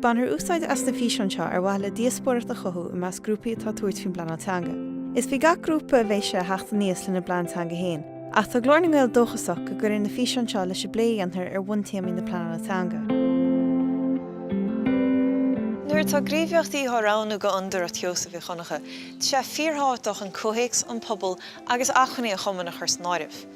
Bainfear úsáid as na físeáin seo ar mhaithe le díospóireacht a chothú i measc grúpaí atá ag tabhairt faoin bpleanáil teanga. Is faoi gach grúpa a bheidh sé a theacht aníos lena bplean teanga féin. Ach tá Glór na nGael dóchasach go gcuirfidh na físeáin seo leis an bplé a dhéantar ar bhuntéamaí na pleanála teanga. Nuair atá gníomhaíochtaí á roghnú do Fhondúireacht Sheosaimh Mhic Dhonncha, tá sé fíorthábhachtach an comhthéacs, an pobal agus acmhainní an chumainn a chur san áireamh.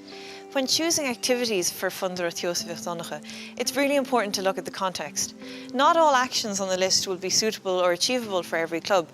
When choosing activities for Fondúireacht Sheosaimh Mhic Dhonncha, it's really important to look at the context. Not all actions on the list will be suitable or achievable for every club.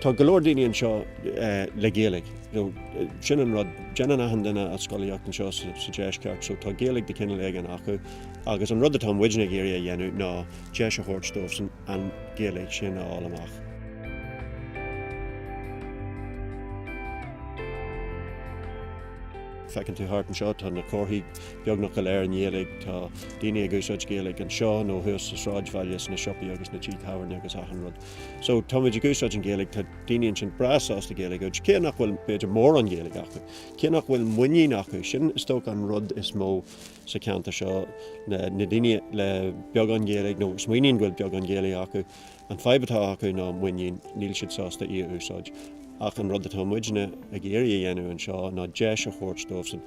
Tá go leor daoine anseo le Gaeilge. Sin an rud, déanann achan duine a scolaíocht anseo sa deisceart so tá Gaeilge de chineál éigin acu agus an rud atá muidne ag iarraidh a dhéanamh ná deis a thabhairt dóibhsan an Ghaeilge sin a fháil amach. Feiceann tú thart anseo, tá na comharthaí beagnach go léir i nGaeilge, tá daoine ag úsáid Gaeilge anseo nó thuas sa sráidbhaile, sna siopaí agus sna tithe tábhairne agus achan rud. So táimid ag úsáid an Ghaeilge, tá daoine ansin breá sásta Gaeilge a úsáid, cé nach bhfuil b'fhéidir mórán Gaeilge acu, cé nach bhfuil muinín acu, sin is dócha an rud is mó sa cheantar seo, na daoine le beagán Gaeilge, nó a smaoiníonn go bhfuil beagán Gaeilge acu, an fadhb atá acu ná muinín, níl siad sásta í a úsáid. Ach an rud atá muidne ag iarraidh a dhéanamh anseo ná deis a thabhairt dóibhsan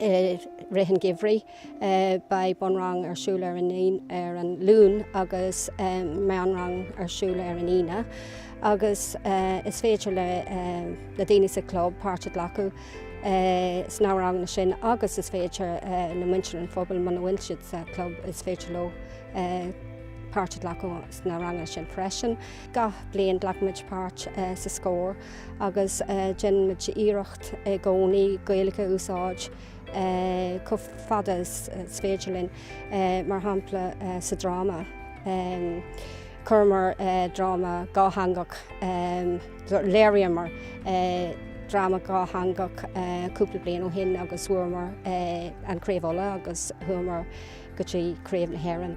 i rith an gheimhridh. Beidh bunrang ar siúl ar an ar an Luan agus meánrang ar siúl ar an Aoine agus is féidir le daoine sa chlub páirt a glacadh sna ranganna sin agus is féidir le muintir an phobail muna bhfuil siad sa club is féidir leo páirt a glacadh sna ranganna sin freisin. Gach bliain glacaimid páirt sa Scór. agus déanaimid iarracht i gcónaí Gaeilge a úsáid chomh fada is féidir linn. Mar shampla, sa dráma, chuireamar dráma dhátheangach, léiríomar dráma dhátheangach cúpla bliain ó shin agus bhuamar an Craobh Uladh agus chuamar go dtí Craobh na hÉireann.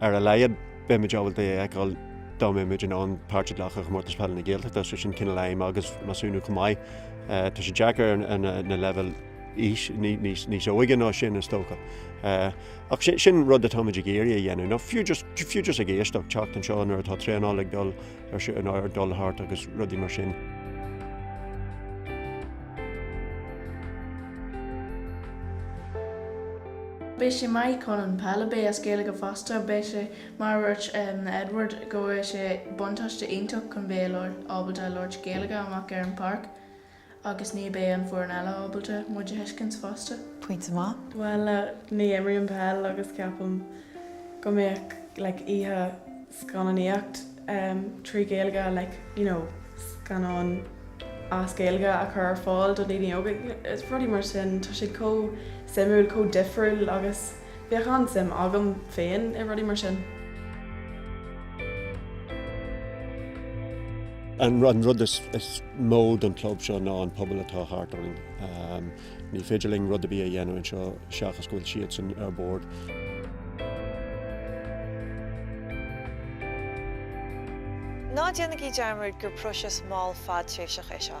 Ar a laghad beimid ábalta é a fheiceáil dá mbeimis in ann páirt a ghlacadh i gComórtas Peile na Gaeltachta, sé sin cineál aidhm agus measúnú chomh maith. Tá sé deacair ar na leibhéil aois níos óige ná sin is dócha. Ach sin rud atáimid ag iarraidh a dhéanamh, nó fiú just ag éisteacht teacht anseo nuair atá traenáil ag dul ar sé in áir dul thart agus rudaí mar sin. Beidh sé maith chun an peile, beidh sé as Gaeilge fosta, beidh sé mar a dúirt Edward go bhfuil sé buntáiste iontach chun bheith ábalta a labhairt Gaeilge amach ar an bpáirc. Agus ní bheidh an foireann eile ábalta muid a thuiscint fosta. Pointe maith. Bhuel, ní imrím peil agus ceapaim go mbeadh like oíche scannánaíocht em trí Ghaeilge like you know scannáin as Gaeilge a chur ar fáil do daoine óga, rudaí mar sin, tá sé chomh suimiúil, chomh difriúil agus. Bheadh an-suim agam féin i rudaí mar sin. An rud is mó don chlub seo ná an pobal atá thart orainn. Ní féidir linn rud ar bith a dhéanamh anseo seachas go bhfuil siadsan ar bord. Ná déanaigí dearmad gur próiseas mall fadtréimhseach é seo.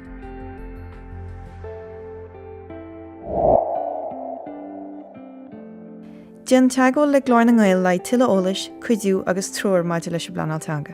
Déan teagmháil le Glór na nGael le haghaidh tuilleadh eolais, cuidiú agus treoir maidir leis an bpleanáil teanga.